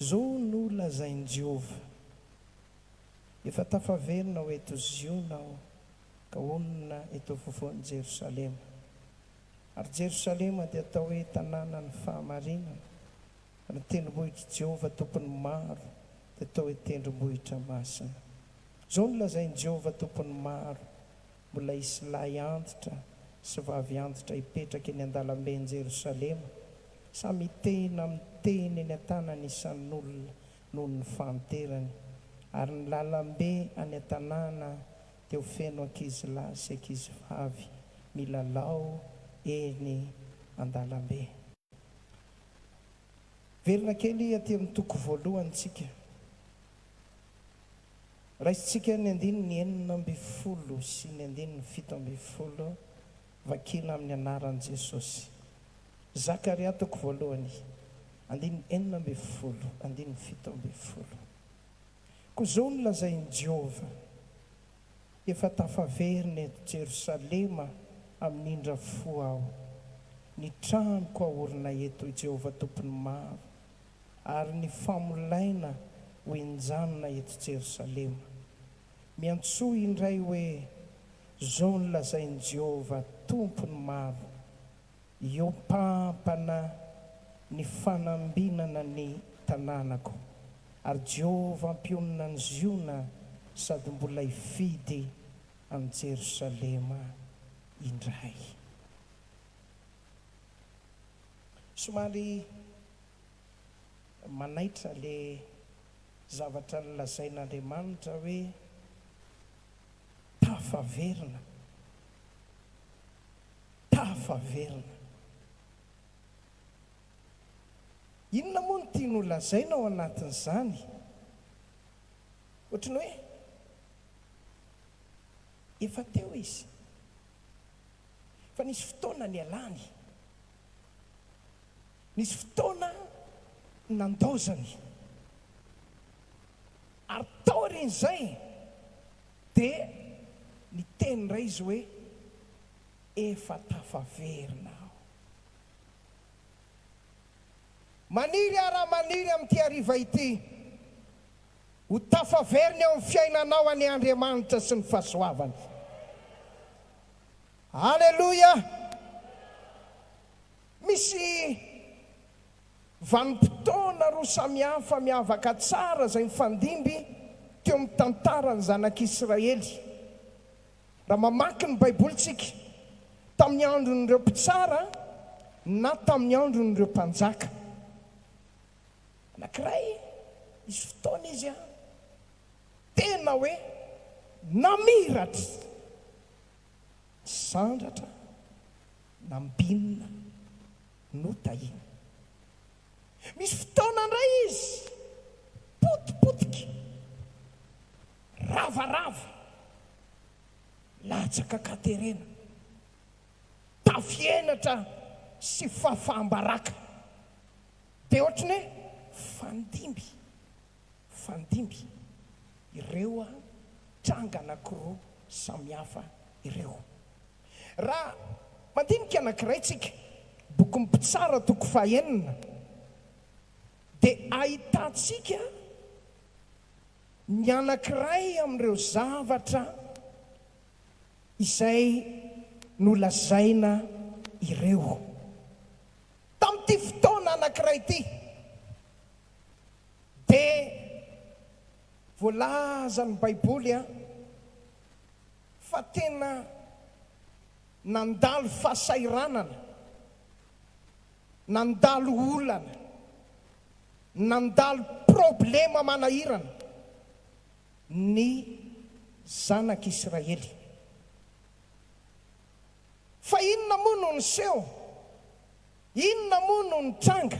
Izao no lazain'i Jehovah, Efa tafaverina ho eto Ziona aho, ka honina eto afovoan'i Jerosalema. Ary Jerosalema dia atao hoe Tanànan'ny Fahamarinana, ary ny tendrombohitr'i Jehovah Tompon'ny Maro dia atao hoe Tendrombohitra Masina. Izao no lazain'i Jehovah Tompon'ny Maro, Mbola hisy lahy antitra sy vavy antitra hipetraka eny an-dalamben'i Jerosalema, samy hitehina amin'ny tehina eny an-tanany isan'olona noho ny fahanterany, ary ny lalambe any an-tanàna dia ho feno ankizilahy sy ankizivavy milalao eny an-dalambe. Miverina kely aty amin'ny toko voalohany isika. Raisintsika ny andininy enina ambin'ny folo sy ny andininy fito ambin'ny folo vakina amin'ny anaran'i Jesosy. Zakaria toko voalohany, andininy enina ambin'ny folo, andininy fito ambin'ny folo. Koa izao no lazain'i Jehovah, Efa tafaverina eto Jerosalema amin'ny indra fo aho, ny tranoko ahorina eto, i Jehovah Tompon'ny Maro, ary ny famolaina ho enjanina eto Jerosalema. Miantsoa indray hoe, Zao no lazain'i Jehovah Tompon'ny maro, Iompampana ny fanambinana ny tanànako, ary Jehovah mpionona an'i Ziona sady mbola hifidy an'i Jerosalema indray. Somary Manaitra le zavatra nolazain'Andriamanitra hoe tafaverina, tafaverina. Inona moa no tiany holazaina ao anatin'izany? Ohatry ny hoe efa teo izy fa nisy fotoana nialany. Nisy fotoana nandaozany, ary taorian'izay dia niteny indray izy hoe, Efa tafaverina aho. Maniry aho raha maniry amin'ity hariva ity ho tafaverina eo amin'ny fiainanao anie Andriamanitra sy ny fahasoavany. Aleloia! Misy vanim-potoana roa samihafa miavaka tsara izay mifandimby teo amin'ny tantaran'ny zanak'Israely. Raha mamaky ny Baiboly isika, tamin'ny andron'ireo mpitsara na tamin'ny andron'ireo mpanjaka. Anankiray, nisy fotoana izy tena hoe namiratra. Sandratra na mbinina no tahiana. Misy fotoana indray izy potipotika, ravarava, latsaka katerena, tafihenatra sy fafam-baraka. Dia ohatran'ny hoe fandimby. Mifandimby ireo tranga anankiroa samihafa ireo. Raha mandinika anankiray tsika, bokin'ny Mpitsara toko fahenina, dia ahitantsika ny anankiray amin'ireo zavatra izay nolazaina ireo. Tamin'ity fotoana anankiray ity, Dia voalaza ny baiboly an, fa tena nandalo fahasahiranana, nandalo olana, nandalo problema manahirana ny zanak'israely. Fa inona moa no niseho? Inona moa no nitranga?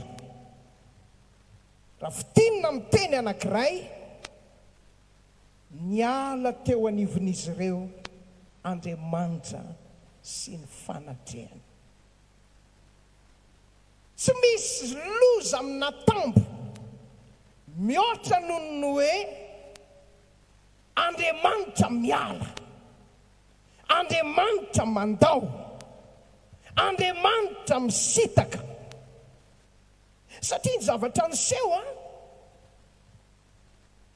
Raha fintinina amin'ny teny anankiray, Niala teo anivon'izy ireo Andriamanitra sy ny fanatrehany. Tsy misy loza amin'ny natambo mihoatra noho ny hoe Andriamanitra miala. Andriamanitra mandao, Andriamanitra misitaka. Satria ny zavatra niseho a!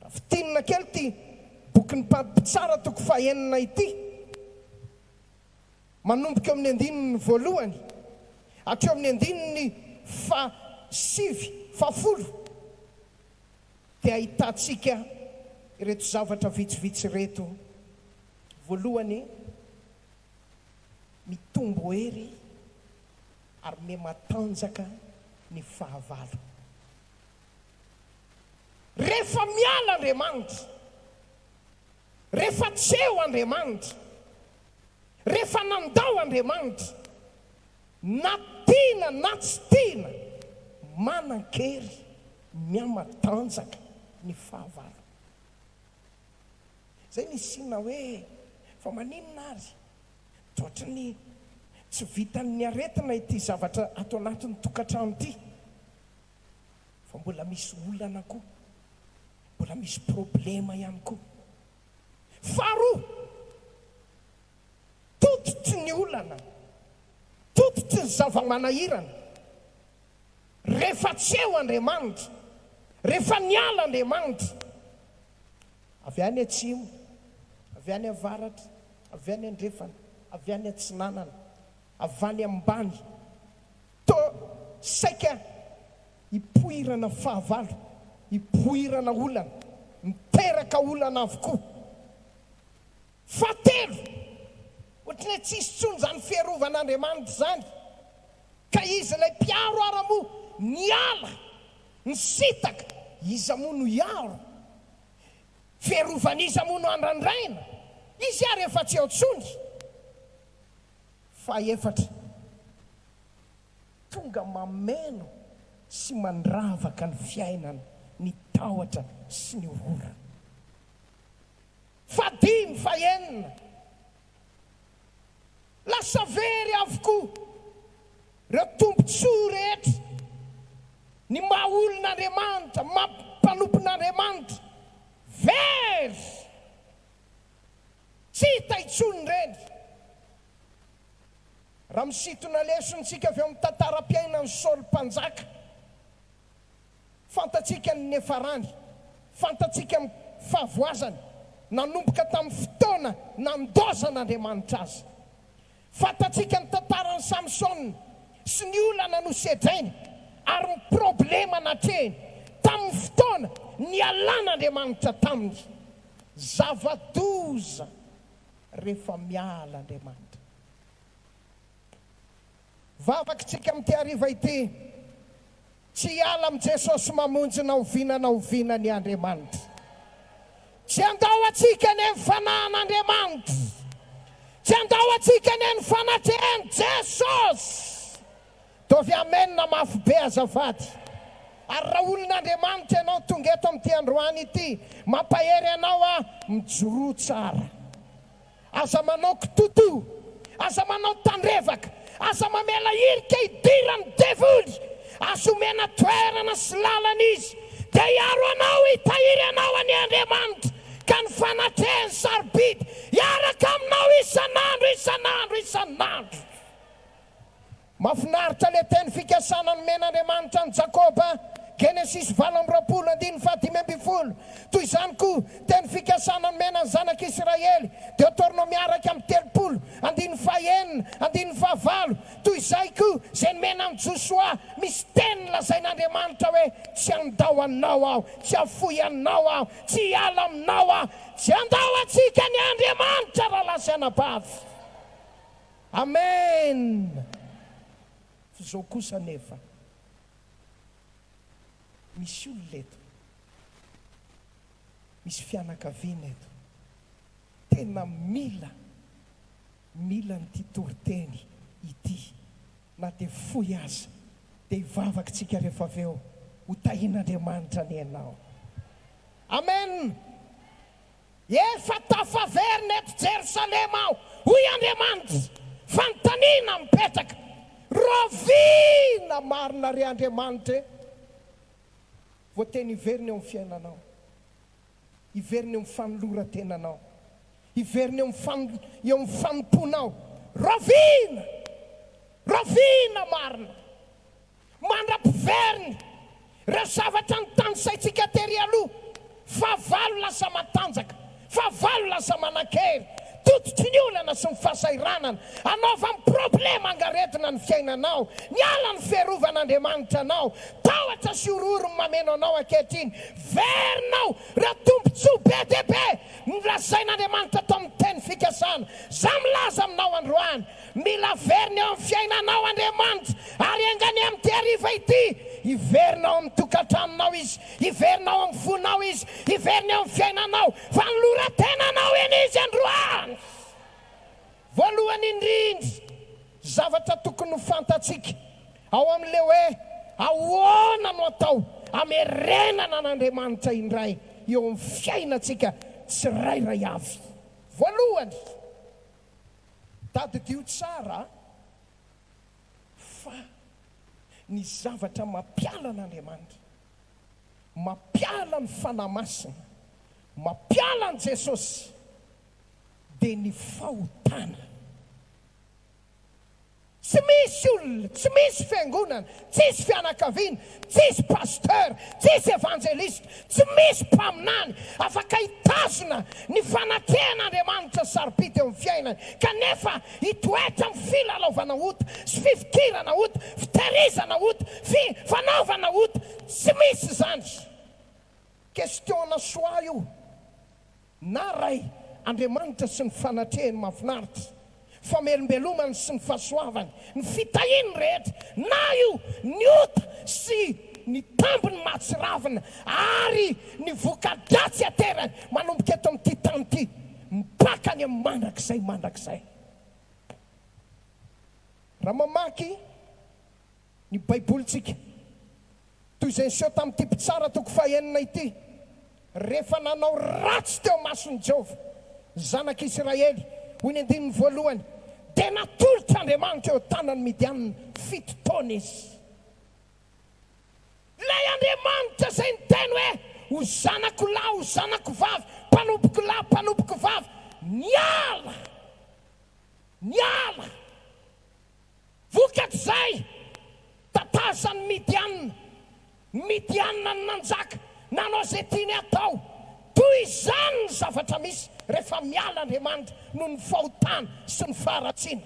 Raha fintinina kely ity bokin'ny Mpady Mpitsara toko fahenina ity, manomboka eo amin'ny andininy voalohany hatreo amin'ny andininy fahasivy, fahafolo, dia ahitantsika ireto zavatra vitsivitsy ireto. Voalohany, mitombo hery ary miha matanjaka ny fahavalo. Rehefa miala Andriamanitra, rehefa tsy eo Andriamanitra, rehefa nandao Andriamanitra, na tiana na tsy tiana, manan-kery, miha matanjaka ny fahavalo. Zay ny signe hoe fa maninona ary toetry ny tsy vitan'ny aretina ity zavatra ato anatin'ny tokantrano ity fa mbola misy olana koa, mbola misy problema ihany koa. Faharoa, tototry ny olana, tototry ny zava-manahirana Rehefa tsy eo Andriamanitra, rehefa niala Andriamanitra, avy any atsimo, avy any avaratra, avy any andrefana, avy any atsinanana, avy any ambany, toa saika hipoirana fahavalo, hipoirana olana, miteraka olana avokoa. Fahatelo, ohatran'ny hoe tsisy intsony izany fiarovan'Andriamanitra izany. Ka iza ilay mpiaro ara moa niala nisitaka iza moa no hiaro? Fiarovan'iza moa no andrandraina? Izy ary efa tsy ao tsony. Fahefatra, tonga mameno sy mandravaka ny fiainana ny tahotra sy ny horora. Fahadimy, fahenina, Lasa very avokoa ireo tombontsoa rehetra, ny maha olon'Andriamanitra, ny maha mpanompon'Andriamanitra. Very! Tsy hita intsony ireny. Raha misintona lesontsika avy ao amin'ny tantaram-piainan'i Saoly Mpanjaka, Fantatsika ny niafarany, fantatsika ny fahavoazany, nanomboka tamin'ny fotoana nandaozan'Andriamanitra azy. Fantatsika ny tantaran'i Samsona sy ny olana nosedrainy ary ny problema natrehiny tamin'ny fotoana nialan'Andriamanitra taminy. Zava-doza rehefa miala Andriamanitra. Vavakitsika amin'ity hariva ity, Tsy hiala amin'i Jesosy Mamonjy na oviana na oviana ny Andriamanitra. Tsy handao antsika anie ny Fanahin'Andriamanitra. Tsy handao antsika anie ny fanatrehan'i Jesosy. Ataovy Amen mafy be azafady. Ary raha olon'Andriamanitra ianao tonga eto amin'ity androany ity, mampahery anao aho, mijoroa tsara. Aza manao kitoto, aza manao tandrevaka, aza mamela hirika hidiran'ny devoly, aza omena toerana sy lalana izy, dia hiaro anao, hitahiry anao anie Andriamanitra, ka ny fanatrehany sarobidy hiaraka aminao isan'andro, isan'andro, isan'andro. Mafinaritra le teny fikasana nomen'Andriamanitra an'i Jakoba, Genesisy valo amby roapolo andininy fahadimy ambin'ny folo. Toy izany koa teny fikasana nomena ny zanak'Israely, Deotornômy araka amin'ny telopolo andininy fahenina andininy fahavalo. Toy izay koa izay nomena an'i Josoa, misy teny lazain'Andriamanitra hoe, Tsy handao anao aho, tsy hafoy anao aho, tsy hiala aminao aho. Tsy handao antsika ny Andriamanitra raha lahy sy anabavy. Amen! F'izao kosa anefa misy olona eto, misy fianakaviana eto tena mila, mila an'ity toriteny ity, na dia fohy aza, dia hivavak'tsika rehefa avy eo, ho tahin'Andriamanitra anie ianao. Amen! Efa tafaverina eto Jerosalema aho, hoy Andriamanitra, fanontaniana mipetraka, rahoviana marina re Andriamanitra e? Voateny hiverina eo amin'ny fiainanao, hiverina eo amin'ny fanoloran-tenanao, hiverina eo amin'ny eo amin'ny fanompoanao, rahoviana? Rahoviana marina? Mandra-piveriny ireo zavatra notanisaintsika tery aloha, fahavalo lasa matanjaka, fahavalo lasa manan-kery, tototry ny olana sy ny fahasahiranana, anaovan'ny problema angaredona ny fiainanao, niala ny fiarovan'Andriamanitra anao, tahotra sy horohoro ny mameno anao ankehitriny, verinao ireo tombontsoa be dia be nolazain'Andriamanitra tao amin'ny Teny fikasana izay milaza aminao androany. Mila averina eo amin'ny fiainanao Andriamanitra, ary enga anie amin'ity hariva ity, hiverina ao amin'ny tokantranonao Izy, hiverina ao amin'ny fonao Izy, hiverina eo amin'ny fiainanao, fa noloran-tenanao eny Izy androany! Voalohany indrindra, zavatra tokony ho fantatsika ao amin'ilay hoe ahoana no atao hamerenana an'Andriamanitra indray eo amin'ny fiainantsika tsirairay avy. Voalohany. Tadidio tsara fa ny zavatra mampiala an'Andriamanitra, mampiala ny Fanahy Masina, mampiala an'i Jesosy dia ny fahotana. Tsy misy olona, tsy misy fiangonana, tsisy fianakaviana, tsisy pasteur, tsisy evangeliste, tsy misy mpaminany afaka hitazona ny fanatrehan'Andriamanitra sarobidy eo amin'ny fiainany kanefa hitoetra amin'ny filalaovana ota sy fifikirana ota, fiterizana ota, fi, fanaovana ota. Tsy misy izany. Question-na soa io. Na Ray, Andriamanitra sy ny fanatrehany mahafinaritra, famelombelomany sy ny fahasoavany, ny fitahiany rehetra, na io ny ota sy ny tambiny mahatsiravina ary ny voka-dratsy aterany manomboka eto amin'ity tany ity mipaka any amin'ny mandrakizay mandrakizay. Raha mamaky. ny Baibolintsika. Toy izay niseho tamin'ity mpitsara toko fahenina ity, rehefa nanao ratsy teo mason'i Jehovah ny zanak'Isiraely, hoy ny andininy voalohany, dia natolotra Andriamanitra eo an-tanan'ny Midianina fito taona izy. Ilay Andriamanitra izay niteny hoe, Ho zanako lahy, ho zanako vavy, mpanompoko lahy, mpanompoko vavy, niala, niala. Vokatr'izay, tatahosan'i Midiana, ny Midianina no nanjaka, nanao izay tiany hatao. Toy izany ny zavatra misy rehefa miala Andriamanitra noho ny fahotana sy ny faharatsiana.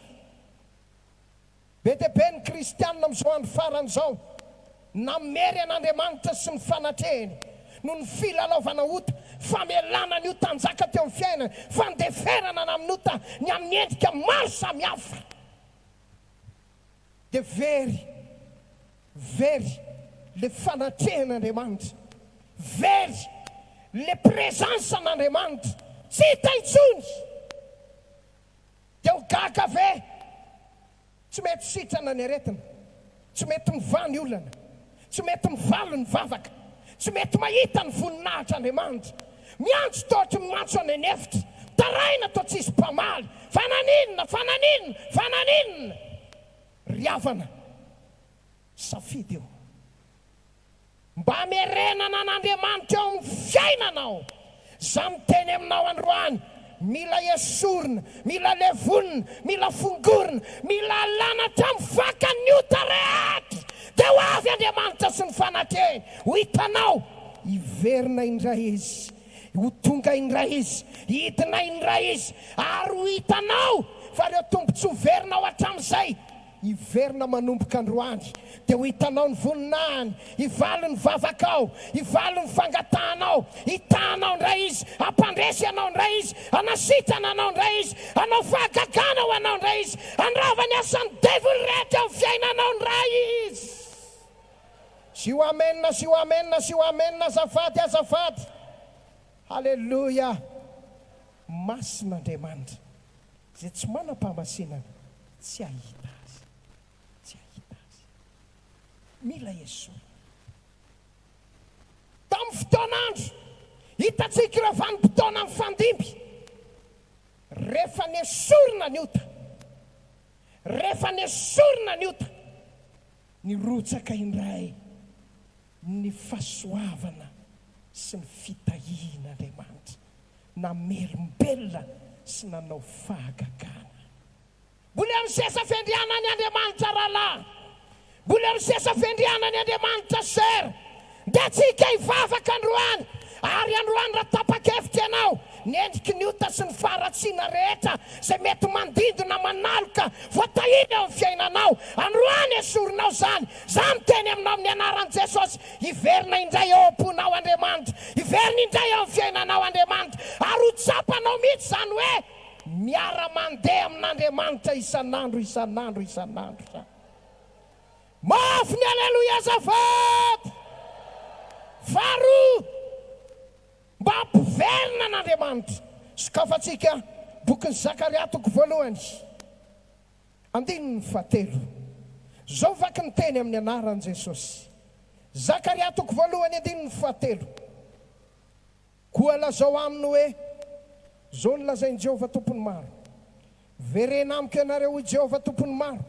Be dia be ny kristiana amin'izao andro farany izao namery an'Andriamanitra sy ny fanatrehiny noho ny filalaovana ota, famelana ny ota hanjaka teo amin'ny fiainany, fandeferana ny amin'ny ota ny amin'ny endrika maro samihafa. dia very, very ilay fanatrehan'Andriamanitra, very ilay présence n'Andriamanitra, tsy hita intsony, dia ho gaga ve? Tsy mety sitrana ny aretina. Tsy mety mivaha ny olana. Tsy mety mivaly ny vavaka. Tsy mety mahita ny voninahitr' Andriamanitra. Miantso taotry ny mantso any an'efitra. Mitaraina toa tsisy mpamaly. Fa naninona? Fa naninona? Fa naninona? Ry havana, safidy io. Mba hamerenana an'Andriamanitra eo amin'ny fiainanao. Za miteny aminao androany, mila esorina, mila levonina, mila fongorina, mila alana hatramin'ny vakan'ny ota rehetra, dia ho avy Andriamanitra sy ny fanatrehy, ho hitanao, hiverina indray Izy, ho tonga indray Izy, hidina indray Izy, ary ho hitanao fa ireo tombontsoa verinao hatramin'izay Hiverina manomboka androany, dia ho hitanao ny voninahiny, hivalo ny vavakao, hivalo ny fangatahanao, hitaha anao indray Izy, hampandresy anao indray Izy, hanasitrana anao indray Izy, hanao fahagagana ho anao indray Izy, handrava ny asan'ny devoly rehetra eo amin'ny fiainanao indray Izy. Zio amen, zio amen, zio amen azafady, azafady. Haleloia. Masina Andriamanitra. Izay tsy manam-pahamasinana tsy hahita Azy. Tsy hahita Azy. Mila esorina ny mpitondra. Tamin'ny fotoan'andro hitantsika ireo vanim-potoana mifandimby, rehefa nesorina ny ota, rehefa nesorina ny ota, Nirotsaka indray ny fahasoavana sy ny fitahian'Andriamanitra, namerim-belona sy nanao fahagagana. Mbola eo ny seza fendrianany Andriamanitra rahalahy, mbola eo ny seza fendrianany Andriamanitra sœur, Dia tsika hivavaka androany, ary androany raha tapa-kevitra ianao, ny endriky ny ota sy ny faharatsiana rehetra izay mety mandindona manaloka voatahiry eo amin'ny fiainanao, androany esorinao izany. Izaho miteny aminao amin'ny anaran'i Jesosy, hiverina indray eo am-ponao Andriamanitra, hiverina indray eo amin'ny fiainanao Andriamanitra, ary ho tsapanao mihitsy izany hoe miara-mandeha amin'Andriamanitra isan'andro, isan'andro, isan'andro izany. Mafy ny Aleloia azafady! Faharoa, mba ampiverina an'Andriamanitra. Sokafantsika bokin'i Zakaria toko voalohany, andininy fahatelo. Izao vaky ny teny amin'ny anaran'i Jesosy. Zakaria toko voalohany andininy fahatelo. Koa lazao aminy hoe, 'Izao no lazain'i Jehovah Tompon'ny maro, Verena amiko ianareo, hoy Jehovah Tompon'ny maro,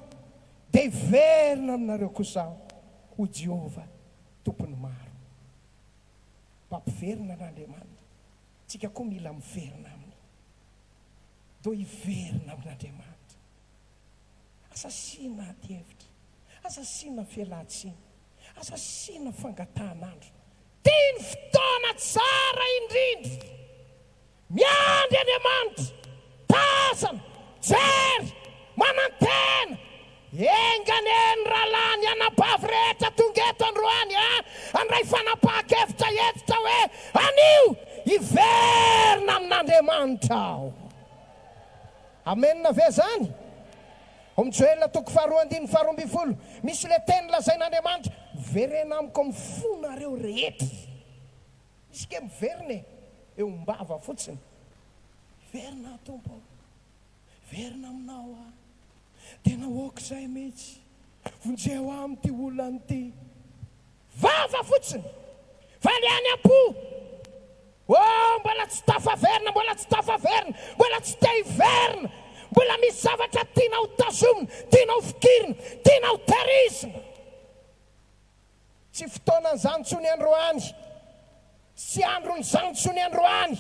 dia hiverina aminareo kosa aho, hoy Jehovah Tompon'ny maro. Mpampiverina an'Andriamanitra. Tsika koa mila miverina aminy. Doo hiverina amin'Andriamanitra. Aza asiana adihevitra. Aza asiana fialantsiny. Aza asiana fangatahan'andro. Ty ny fotoana tsara indrindra! Miandry Andriamanitra! Tazana! Jery! Manantena! Enganie ny rahalahy ny anabavy rehetra tonga eto androany a! Handray fanapahan-kevitra hentitra hoe anio hiverina amin'Andriamanitra aho! Amen ve zany? Om Joel toko faharoa andininy faharoa ambin'ny folo misy le teny lazain'Andriamanitra verena amiko am fonareo rehetra misy nge miverina e eo ombava fotsiny miverina aho Tompo o miverina aminao aho tena ok zay mitsy vonjeo aho amty olana ty Vava fotsiny fa le any ampo oh mbola tsy tafaverina mbola tsy tafaverina mbola tsy te hiverina mbola misy zavatra tiana ho tazomina tiana ho fikirina tiana ho terizina tsy fotoanan'izany tsony androany Tsy andron'izany intsony androany,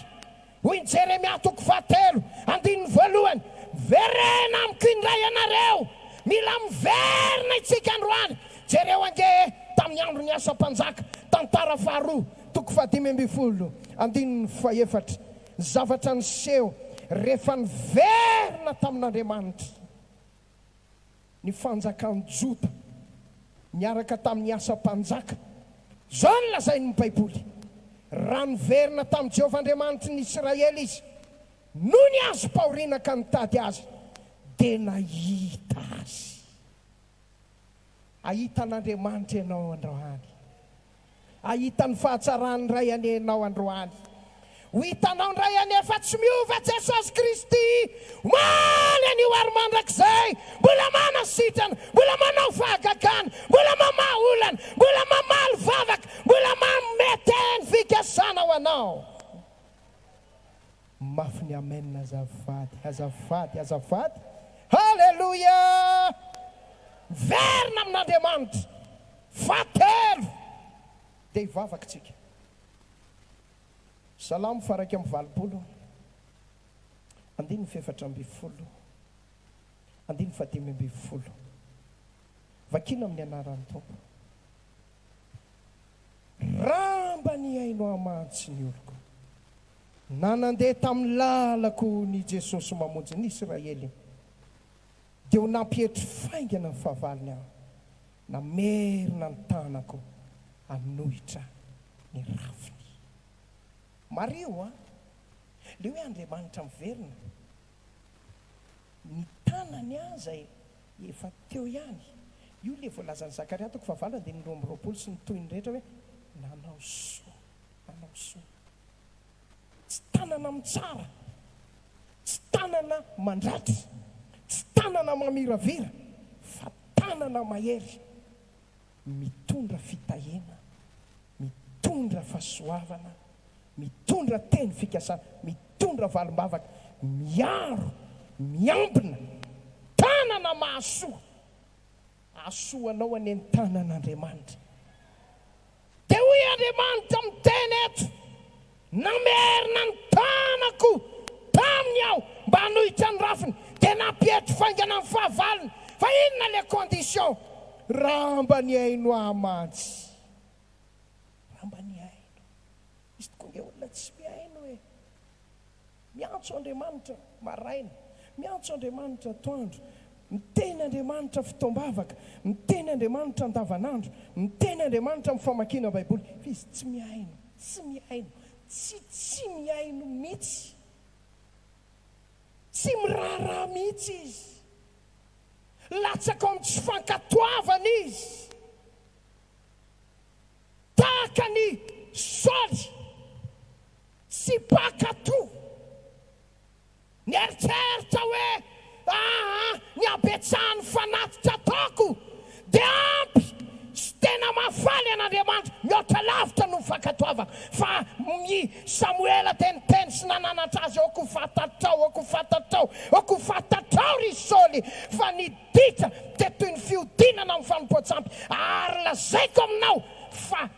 hoy i Jeremia toko fahatelo, andininy voalohany, Miverena amiko indray ianareo! Mila miverina itsika androany! Jereo ange e, tamin'ny andron'i Asa Mpanjaka, Tantara faharoa, toko fahadimy ambin'ny folo, andininy fahefatra, ny zavatra niseho rehefa niverina tamin'Andriamanitra. ny fanjakan'i Joda niaraka tamin'i Asa Mpanjaka. Izao no lazain'ny Baiboly, Raha niverina tamin'i Jehovah Andriamanitry ny Isiraely izy, no niazom-pahoriana ka nitady azy, dia nahita azy. Ahita an'Andriamanitra ianao androany? Hahita ny fahatsaran'ny Ray anie ianao androany. Ho hitanao indray anie fa tsy miova Jesosy Kristy omaly anio ary mandrakizay. Mbola manasitrana, mbola manao fahagagana, mbola mamaha olana, mbola mamaly vavaka, mbola manome teny fikasana ho anao. Mafy ny amen azafady azafady azafady haleloia miverina amin'Andriamanitra fahatelo dia hivavaka tsika salamo faharaika amby valopolo andininy fahefatra amby folo andininy fahadimy amby folo vakina amin'ny anaran'ny Tompo ramba ny aino amantsy ny oloko. Na nandeha tamin'ny lalako ny Jesosy mamonjy ny Israely, dia ho nampietry faingana ny fahavalony aho, namerina ny tanako hanohitra ny rafiny. Mariho an! Ilay hoe Andriamanitra miverina, ny tanany aza e! efa teo ihany, io ilay voalazan'i Zakaria toko fahavalo andininy roa amby roapolo sy ny tohiny rehetra hoe nanao soa. manao soa. Tsy tanana mitsara, tsy tanana mandratry, tsy tanana mamiravira, fa tanana mahery, mitondra fitahiana, mitondra fahasoavana, mitondra teny fikasana, mitondra valim-bavaka, miaro, miambina, tanana mahasoa. Hahasoa anao anie ny tanan'Andriamanitra. Dia hoy Andriamanitra miteny eto, Namerina ny tanako taminy aho mba hanohitra ny rafiny, dia nampietry faingana ny fahavalony, fa inona ilay condition? Raha mba nihaino ahy mantsy. Raha mba nihaino. Misy tokoa ange olona tsy mihaino e. Miantso Andriamanitra maraina, miantso Andriamanitra atoandro, miteny Andriamanitra fotoam-bavaka, miteny Andriamanitra andavanandro, miteny Andriamanitra amin'ny famakiana Baiboly, fa izy tsy mihaino, tsy mihaino, tsy tsy mihaino mihitsy. Tsy miraharaha mihitsy izy. Latsaka ao amin'ny tsy fankatoavana izy. Tahaka an'i Saoly. Tsy mpankatò. Nieritreritra hoe, 'Aa, ny habetsahan'ny fanatitra ataoko dia ampy. Tsy tena mahafaly an'Andriamanitra mihoatra lavitra noho ny fankatoavako. Fa i Samoela dia niteny sy nananatra azy, 'Aoka ho fantatrao, aoka ho fantatrao, aoka ho fantatrao, ry Saoly, fa ny ditra dia toy ny fihodinana amin'ny fanompoan-tsampy, ary lazaiko aminao fa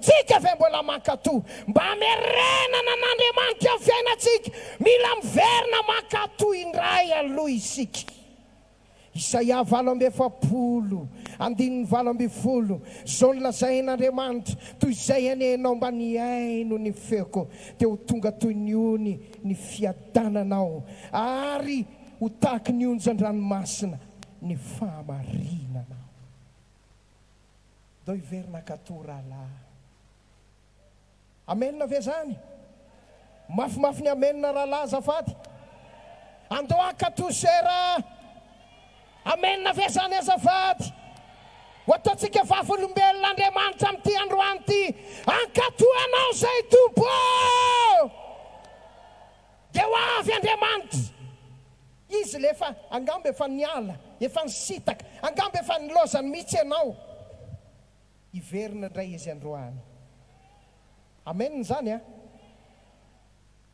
Tsika ve mbola mankato mba hamerenana an'Andriamanitra ny fiainantsika? Mila miverina mankato indray aloha isika. Isaia valo amby efapolo, andininy valo ambin'ny folo, Izao no lazain'Andriamanitra, Toy izay anehanao mba nihaino ny feoko, dia ho tonga toy ny ony ny fiadananao, ary ho tahaky ny onjan-dranomasina ny fahamarinanao. Ndao hiverina akato ralah. Amen ve zany? Mafimafy ny amen ralah azafady. Andao akato cher a. Amen ve zany azafady? Ho ataontsika vavolombelona Andriamanitra amin'ity androany ity. Ankato anao zay Tompo ô! Dia ho avy Andriamanitra. Izy ilay efa, angamba efa niala, efa nisintaka, angamba efa nilaozany mihitsy ianao. Hiverina indray Izy androany. Amen izany an!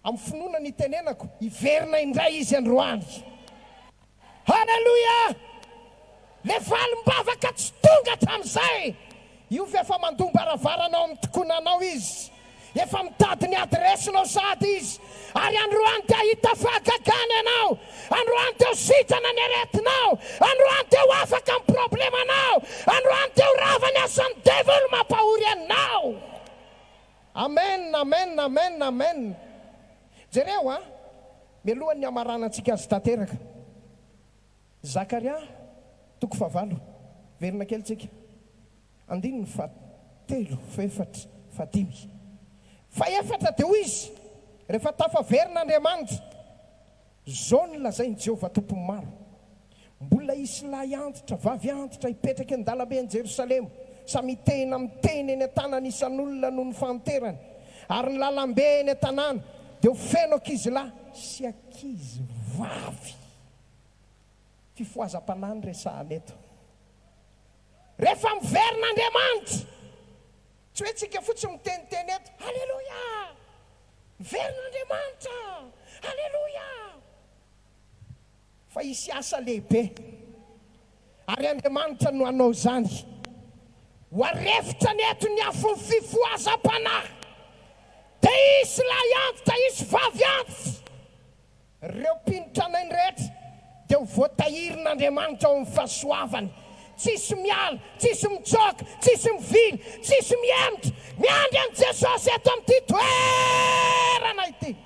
Amin'ny finoana no itenenako, hiverina indray Izy androany. Haleloia! Le valim-bavaka tsy tonga hatramin'izay! Io ve efa mandoa mbaravarana ao amin'ny tikonanao izy? Efa mitady ny adiresinao sady izy? Ary androany dia hahita fahagagana ianao! Androany dia ho sitrana ny aretinao! Androany dia ho afaka amin'ny problemanao! Androany dia ho rava ny asan'ny devoly mampahory anao! Amen! Amen! Amen! Amen! Jereo a! Mialohan'ny hamaranantsika azy tanteraka. Zakaria toko fahavalo, verina kely tsika. Andininy fahatelo, fahefatra, fahadimy. Fahefatra dia hoy izy, Rehefa tafaverina Andriamanitra, Izao no lazain'i Jehovah Tompon'ny Maro, Mbola hisy lahy antitra, vavy antitra hipetraka eny an-dalambe any Jerosalema, samy hitehina amin'ny tehiny eny an-tanany isan'olona noho ny fahanterany, ary ny lalambe eny an-tanàna dia ho feno ankizilahy sy ankizivavy. Fifohazam-panahy no resahana eto. Rehefa miverina Andriamanitra, tsy hoe tsika fotsiny miteniteny eto, Aleloia! Verin'Andriamanitra! Aleloia! Fa hisy asa lehibe, ary Andriamanitra no hanao izany. Ho arefitra ny eto ny afon'ny fifohazam-panahy, dia hisy lahy antitra, hisy vavy antitra. Ireo mpino tranainy rehetra dia ho voatahirin'Andriamanitra ao amin'ny fahasoavany. Tsisy miala, tsisy mitsoaka, tsisy mivily, tsisy mihemotra. Miandry an'i Jesosy eto amin'ity toerana ity.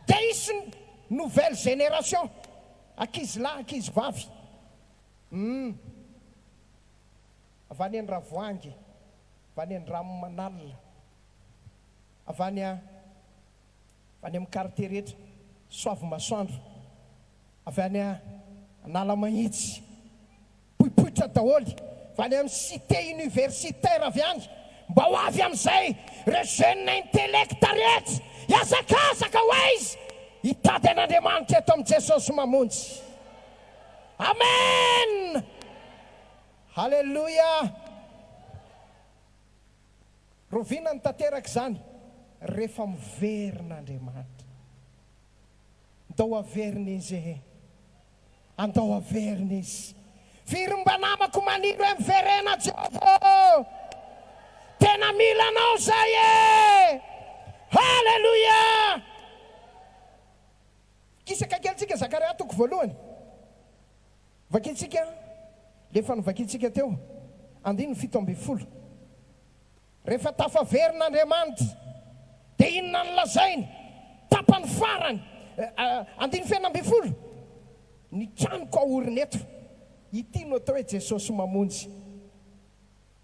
Dia hisy ny nouvelle génération, ankizilahy, ankizivavy. Humm. Avy any Andravoahangy, avy any Andranomanalina, avy any. Avy any amin'ny quartier rehetra, soavimasoandro, avy any Analamahitsy, poipoitra daholo, avy any amin'ny cité universitaire avy any, mba ho avy amin'izay ireo jeunes intellects rehetra hihazakazaka ho aiza hitady an'Andriamanitra eto amin'i Jesosy Mamonjy. Amen! Haleloia! Rovinany tanteraka izany rehefa miverina Andriamanitra. Ndao averina Izy ee. Andao averina Izy. Firy mba namako maniry hoe miverena Jehovah ô! Tena mila Anao izahay e! Haleloia! Kisaka kely tsika Zakaria toko voalohany Vakintsika ilay efa novakintsika teo, andininy fito ambin'ny folo. Rehefa tafaverina Andriamanitra, dia inona no lazainy? Tapany farany, andininy fenina ambin'ny folo, Ny tranoko aorina eto. Ity no atao hoe Jesosy mamonjy.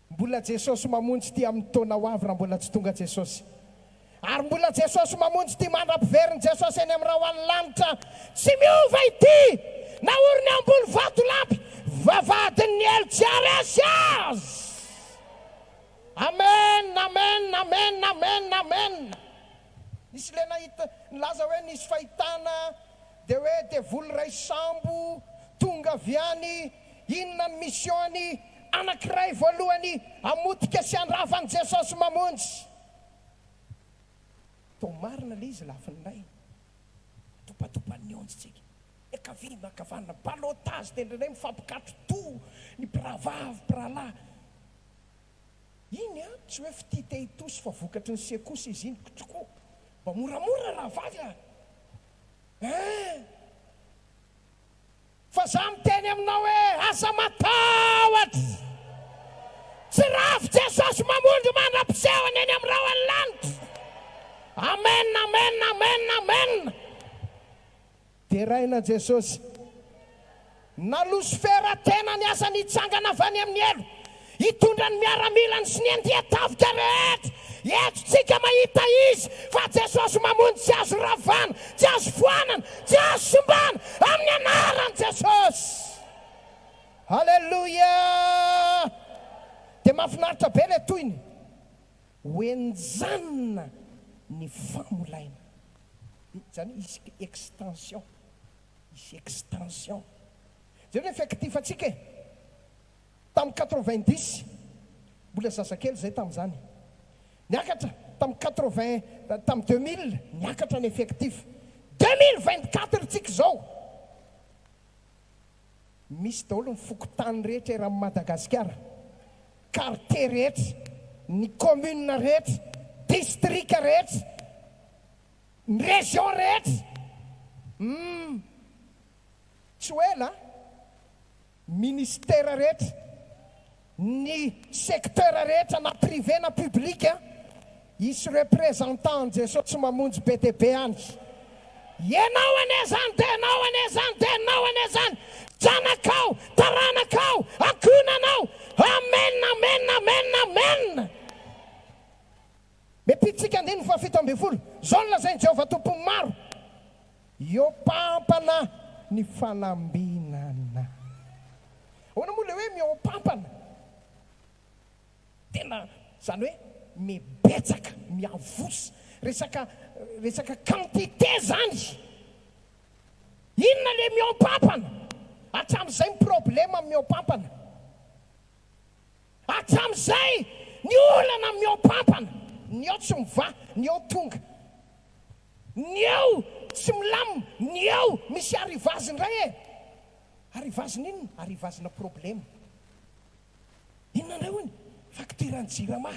Mbola Jesosy mamonjy ity amin'ny taona ho avy raha mbola tsy tonga Jesosy. Ary mbola Jesosy mamonjy ity mandra-piverin'i Jesosy eny amin'ny rahon'ny lanitra. Tsy miova ity na ory ny ambony vatolampy vavahadin'ny helo tsy haharesy azy. Amen amen amen amen amen. Nisy ilay nahita nilaza hoe nisy fahitana dia hoe devoly iray sambo tonga avy any Inona ny mission-ny anankiray voalohany hamotika sy handrava an'i Jesosy mamonjy? Toa marina ilay izy lafiny iray, mitopatopan'ny onjy tsika, miankavia miankavanana, ballottage dia indraindray mifampikatrotoa ny mpirahavavy, mpirahalahy. Iny an, tsy hoe fitia te hitosi fa vokatry ny sekosa izy iny, ktrko, mba moramora rahavavy a! Eeh! Fa za miteny aminao hoe aza matahotra! Tsy rafy Jesosy mamondro mandra-pisehony eny amin'ny rahon'ny lanitra! Amen amen amen amen! Deraina Jesosy! Na losifera tena ny asany hitsangana avy any amin'ny helo Hitondra ny miaramilany sy ny andian-tafika rehetra. Eto tsika mahita Izy fa Jesosy mamonjy tsy azo ravana, tsy azo foanana, tsy azo simbana amin'ny anaran'i Jesosy. Haleloia! Dia mafinaritra be ilay tohiny hoe enjanina ny famolaina. Izany hisy extension, hisy extension. Jereo ilay fektifantsika e! tamin'ny quatre-vingt-dix, mbola zazakely izay tamin'izany, niakatra tamin'ny quatre-vingt, tamin'ny deux mille niakatra ny effectif, deux mille vingt-quatre ntsika izao misy daholo ny fokontany rehetra eran'i Madagasikara, quartier rehetra, ny commune rehetra, district rehetra, ny région rehetra, humm tsy ho ela a! Ministera rehetra, ny secteur rehetra na privé na public hisy representant an'i Jesoa tsy mamonjy be dia be any. Ianao anie izany dia ianao anie izany dia ianao anie izany, zanakao, taranakao, ankohonanao. Amen, amen, amen, amen. Metiantsika andininy fahafito ambin'ny folo. Izao no lazain'i Jehovah Tompon'ny maro, Eo pampana ny fanambinana. Ahoana moa ilay hoe mihoa-pampana? Tena, izany hoe mibetsaka, miavosa. Resaka, resaka quantité izany. Inona ilay mihoa-pampana? Hatramin'izay ny problème amin'ny mihoa-pampana. Hatramin'izay, ny olana amin'ny ao am-pampana, ny ao tsy mivaha, ny ao tonga, ny ao tsy milamina, ny ao misy arrivage indray e! Arrivage-na inona? Arrivage-na problème. Inona indray hono? Facture-n'ny Jirama.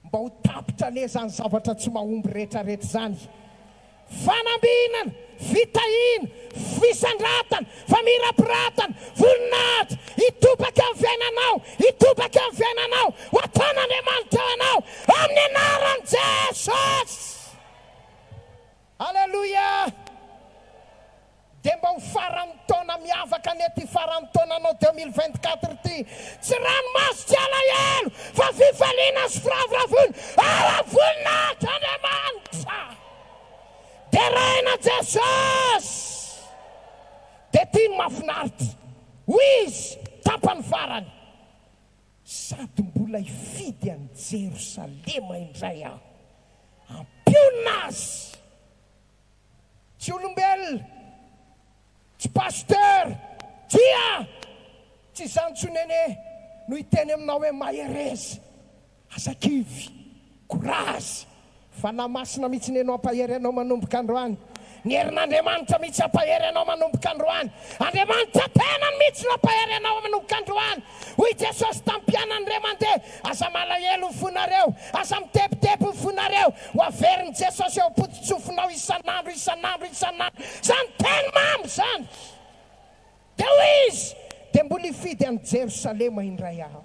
Mba ho tapitra anie izany zavatra tsy mahomby rehetrarehetra izany. Fanambinana, fitahiana, fisandratana, famirapiratana, voninahitra, hitobaka amin'ny fiainanao, hitobaka amin'ny fiainanao, ho ataon'Andriamanitra ho anao, amin'ny anaran'i Jesosy! Aleloia! Dia mba ho faran'ny taona miavaka anie ity faran'ny taonanao deux mille vingt quatre ity. Tsy ranomaso tsy alahelo fa fifaliana sy firavoravoana ao am-voninahitran'Andriamanitra. Deraina Jesosy! Dia ity no mahafinaritra, hoy izy tapany farany. Sady mbola hifidy an'i Jerosalema indray aho. Ampiona azy! Tsy olombelona! Tsy pasteur! Tsia! Tsy izany intsony Nene no hiteny aminao hoe mahereza! Aza kivy! Courage! Fanahy Masina mihitsy ny eno hampahery anao manomboka androany. Ny herin'Andriamanitra mihitsy hampahery anao manomboka androany. Andriamanitra tenany mihitsy no hampahery anao manomboka androany. Hoy Jesosy tamin'ny mpianany re mandeha, aza malahelo ho fonareo, aza mitebiteby ho fonareo, ho averin'i Jesosy eo am-pototsofinao isan'andro, isan'andro, isan'andro. Izany teny mamy izany! Dia hoy izy, Dia mbola hifidy an'i Jerosalema indray aho.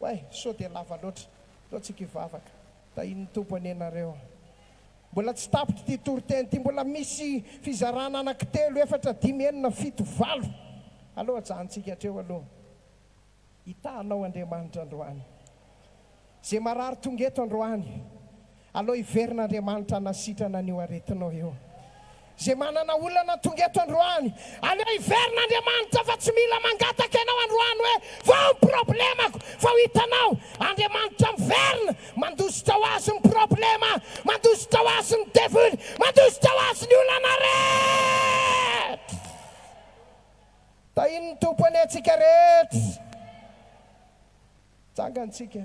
Way, sao dia lava loatra. Ataontsika hivavaka. Tahian'ny Tompo anie nareo. Mbola tsy tapitra ity toriteny ity. Mbola misy fizarana anaky telo, efatra, dimy, enina, fito, valo. Aleo ajanontsika hatreo aloha. Hitahanao Andriamanitra androany. Izay marary tonga eto androany. Aleo hiverin'Andriamanitra hanasitrana an'io aretinao io. Izay manana olana tonga eto androany, aleo hiverin'Andriamanitra fa tsy mila mangataka ianao androany hoe vao ny problemako fa ho hitanao Andriamanitra miverina mandositra ho azy ny problema, mandositra ho azy ny devoly, mandositra ho azy ny olana rehetra. Tahin'ny Tompo anie antsika rehetra. Jangantsika.